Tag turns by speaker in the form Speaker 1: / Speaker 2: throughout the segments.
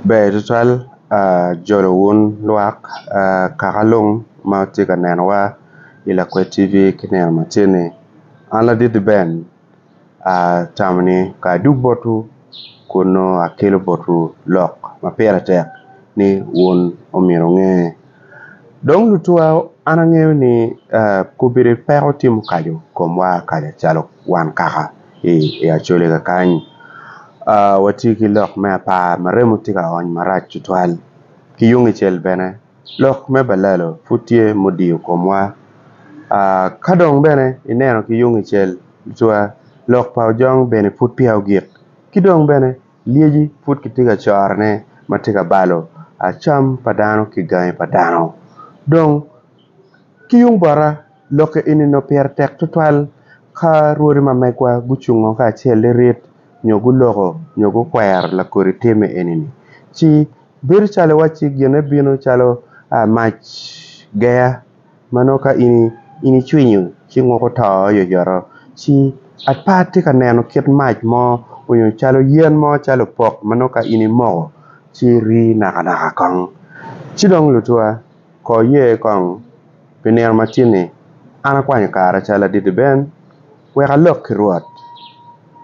Speaker 1: Ber tutwal jolo wun lwak kakalung ma wutye ka nenowa i Lakwed TV ki nino macen-ni. An Laditi Ben atamo ni ka adwogo botwu kun nongo akelo botwu lok ma pire tek ni wun omyero wunge. Dong lutuwa an angeyo ni kobedo peko tye mukaco komwa kanya calo wan kaka. i Acholi kakany watye ki lok me apar ma remo tye ka ony marac tutwal ki yung kicel bene lok me balalo pud tye ma odiyo komwa ka dong bene ineno ki yung kicel cwa lok pa ojong bene pud peya ogik ki dong bene lyeci pud kitye ka corone ma tye ka balo cam pa dano ki gangi pa dano dong ki yung bota Lokke enino pire tek tutwal ka rwodi ma megwa gucungo kacel lirit nyo guloko nyo gukwero lakodi timme enini. Ci, bedo calo iwacci gine bino calo mac geya ma nongo ka in in icwinyo ci nguko to oyoyoto. Ci, apa itye ka neno kit mac mo onyo calo yen mo calo opok ma nongo ka in imoko ci rii nakanaka kong? Ci dong lutuwa. Kor ye kong, pi nino matinni, an akwanyo kara cal adidi ben wek alok ki Rwot,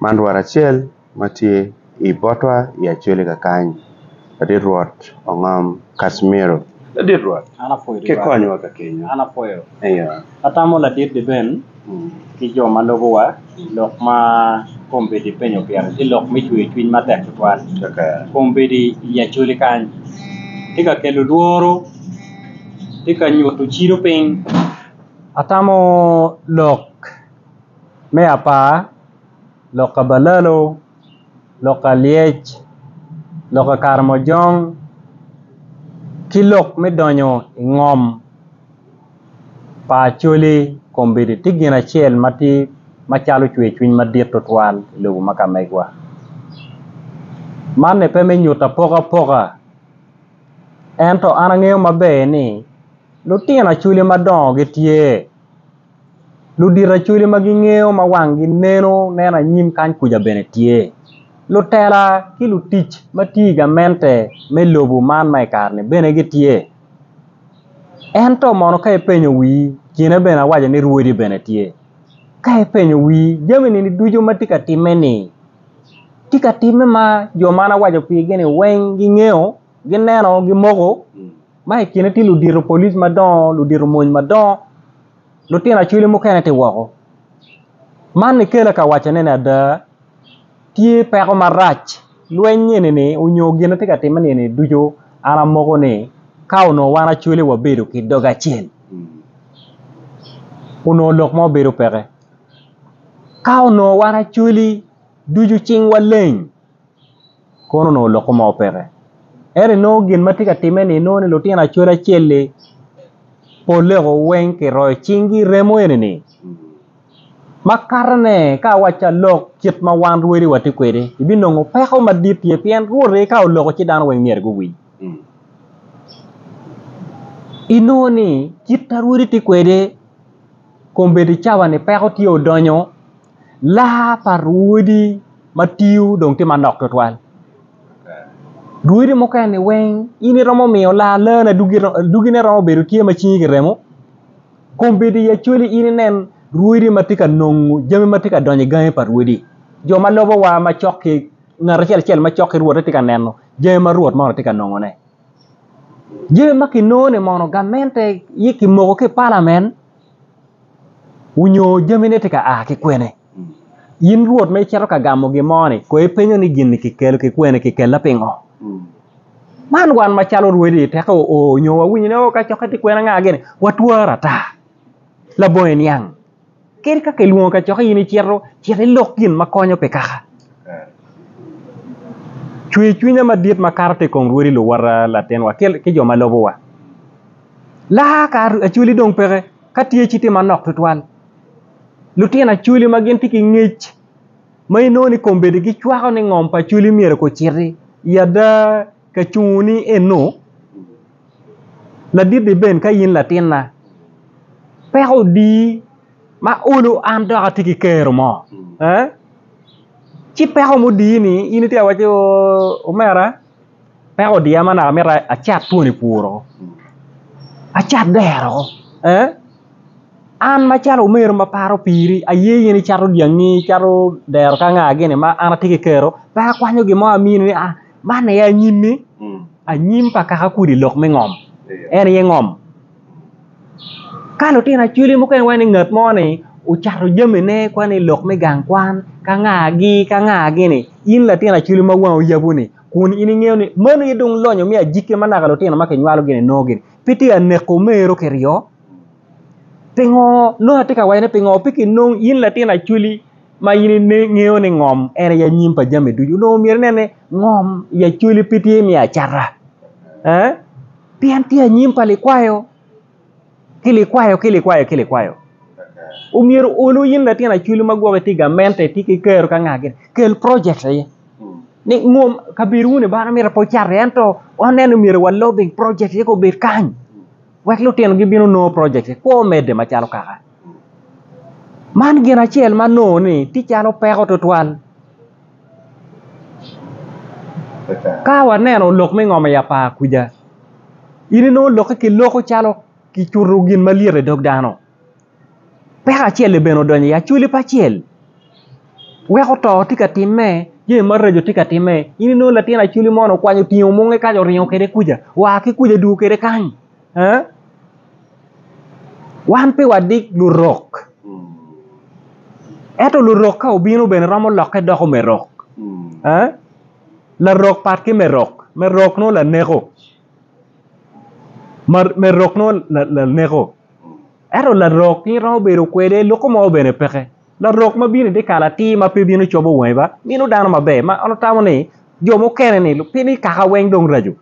Speaker 1: man Rwot acel ma tye i botwa i Acholi kakany, Ladit Rwot Ongom Casimiro. Ladit Rwot, kikonywa
Speaker 2: kakenya. Atamo
Speaker 1: ladit
Speaker 2: liben ki jo ma lubowa lok ma kombeddi penyo pire ci lok me cwer cwiny matek tutwal. Kombeddi
Speaker 1: i
Speaker 2: Acholi kany tye ka kelo lworo, tye ka nyuto cido piny. Atamo lok me apar, lok ka balalo, lok ka lyec, lok ka karamojong ki lok me donyo i ngom. pa Acholi kombeddi tye gin acel ma tye macalo cwer cwiny madit tutwal i lobo ma ka megwa. Man ni pe me nyuto apoka apoka ento an angeyo maber ni lutino Acholi madongo gitye ludito Acholi ma gingeyo ma wangi neno neno anyim kany kuca bene tye lutela ki lutic ma tye i gamente me lobo man ma i kare-ni bene gitye. Ento mono ka ipenyo wii kine bene awaco ni rwodi bene tye ka ipenyo wii jami ni ducu ma tye ka timme ni tye ka timme ma jo ma an awaco pigi ni weng gingeyo gineno gimoko ma ikine tye ludito polic madongo ludito mony madongo. lutino acwele mukene tye woko man ikela ka wacone ni ada tye peko marac lweny eni onyo gin ma tye ka timme eni ducu an amoko ni ka onongo wan acwele wabedo ki dog acel onongo lok mo bedo peke ka onongo wan acwele ducu cingwa leng. kono onongo lok mo peke ento nongo gin ma tye ka timme ni nongo lutino acwal acel-li polle woko weng kiroyo cinggi i remo eni ma katone ka awacci alok kit ma wan rwedi watye kwede ibinongo peko madit tye pien Rwot aye ka oloko ci dano weng myero guwiny inongo ni kit ma rwodi tye kwede kombeddi cawa-ni peko tye odonyo. laa pa rwodi ma tiyo dong tye manok twatwal rwodi mukene-ni weng in iromo miyo laa laane adogine romo bedo tye ma cingi kiremo kong bed i acwali in inen rwodi ma tye ka nongo jami ma tye ka donyo i gangi pa rwodi jo ma lobowa macok ki ngat acel acel macok ki rwote tye ka neno jami ma rwot moni tye ka nongone, jami ma kinongo-ni mono gamente ci kimoko ki i palamen. onyo jamine tye ka a ki kwene. In Rwot ma icito ka gamo gin mo-ni, kono ipenyo ni gin-ni kikelo ki kwene, kikelle pingo? Man wan macalo orwedi tek o nyo wawinyo ni o kacokke tye kwene anga gini, watwar ata. Labongi niang, kadi ka kilwongo kacokke in icito, cit ilok gin ma konyo pi kaka. Cwer cwinya madit makato tye i kom rwodi luwota latinwa ki jo ma lubowa. Laa ka achwali dong peke, ka tye ci tye manok tutwal. Lutino achwali ma gitye ki ngec ma inongo ni kombeddi gicwako ni ngom pa achwali myero guciti i ada ka cungo ni eno. Ladit-ti bene ka in latinna, peko odi ma olo an dok atye ki kero mo ci peko mudi-ni in itye ka wacci ooh omera. peko odiya ma naka mito acat twoni puro acat dero an macalo omego ma paro piri aye in icato dyangi icato dero ka nga gini ma an atye ki kero pe akwanyo gin mo amini ni aa man aye anyimi anyim pa kaka kodi i lok me ngom en aye ngom ka lutino acwali mukene iwaco ni ngat mo ni ocato jamine kwan i lok me gang kwan ka nga gi ka nga gini in latin acwali ma wangi oyabo ni. Kun in ingeyo ni meno aye dong lonyo me ajikke ma naka lutino ma kinywalo gini nongo gini. Pe tye ka neko mero ki ryo. Pingo nongo atye ka waco ni pingo pe kinong in latin acwali ma in ingeyo ni ngom en aye anyim pa jami ducu. Onongo myero inen ni ngom i acwali pe tye me acata. Eh? Pien tye anyim pa likwayo. ki likwayo ki likwayo ki likwayo omyero olu in latin acwili ma gwok itye i gamente itye ki kero ka nga gire kel project aye ni ngom kabedo wunu bano mite pe ocat iye ento waneno myero wa lobing project aye ka obed kany wek lutino gibino nongo project aye kwo medde macalo kaka man gin acel ma nongo ni tye calo peko twatwal. Ka waneno lok me ngom i apar kwija in inongo lokke ki loko calo kicuto gin malyet idog dano peko acel-li bene odonyo i acwali pa acel weko to tye ka timme jami maraco tye ka timme in inongo latin acwali moni okwanyo otingo mwonge kaco oringo kwede kwija wa ki kwija dwogo kwede kany. Wan pe wadik lurok, ento lurok ka obino bene romo lokke doko me rok. Larok pat ki me rok, me rok nongo laneko, me rok nongo laneko ento larok in iromo bedo kwede loko mo bene peke, larok ma bino idyekal atir ma pe bino cobo wangi ba mino dano maber ma an atamo ni jo mukene-ni pi nikaka weng dong raco.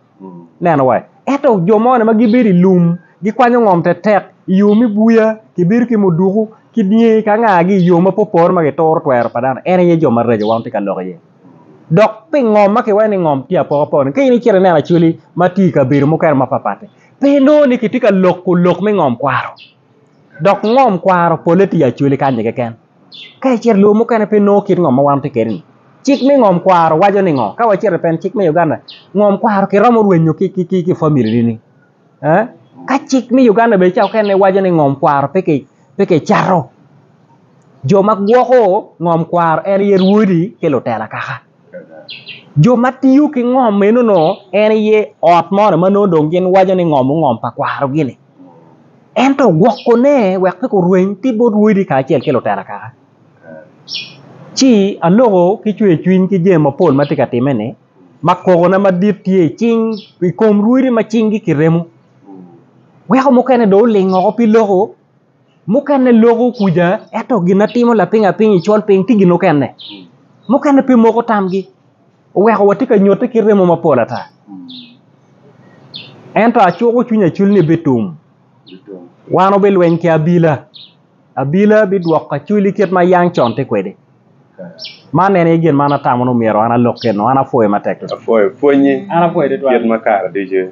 Speaker 2: Neno wa, ento jo moni ma gibedo i lum gikwanyo ngom tetek i yo me buya, gibedo ki muduku ki dyangi ki angagi i yo mapopore ma gituro twero pa dano. En aye jo maraco ma wan watye ka lok iye. Dok pi ngom ma kiwaco ni ngom tye apokapoka-ni, ka in icito ineno acwali ma tye i kabedo mukene mapatpat-ti, pe inongo ni kitye ka loko lok me ngom kwaro. Dok ngom kwaro polle tye i acwali kanyi keken. Ka icito i lobo mukene pe inongo kit ngom ma wan watye kwede-ni. Cik me ngom kwaro waco ni ngo? Ka wacito i peny cik me Uganda, ngom kwaro kiromo rwenyo ki familini. Ka cik me Uganda bene ca mukene waco ni ngom kwaro pe kicato, jo ma gwoko ngom kwaro en aye rwodi ki lutela kaka. Jo ma tiyo ki ngom meno nongo en aye ot mo ma gin waco ni ngom ongom pa kwarogi-ni ento ogwokone wek pe gurweny ki bot wodi kacel ki lutera kaka ci aloko ki cwercwiny ki jami mapol ma tye ka timme-ni ma kokona madit tye i kom rwodi ma cinggi kiremo weko mukene dong oling woko pi loko. Mukene loko kuja ento gin ma timo lapiny apiny i col piny tye gin mukene, mukene pe moko tamgi oweko watye ka nyotte ki remo mapol ata. Ento acuko cwiny acul ni bitum, wan wubilweny ki abila, abila bidwoko acwali kit ma yam con tye kwede. Man en aye gin ma an atamo ni myero an alok kwede, an apwoyo matek tutwal. Apwoyo pwonyi kit
Speaker 1: ma
Speaker 2: kare ducu.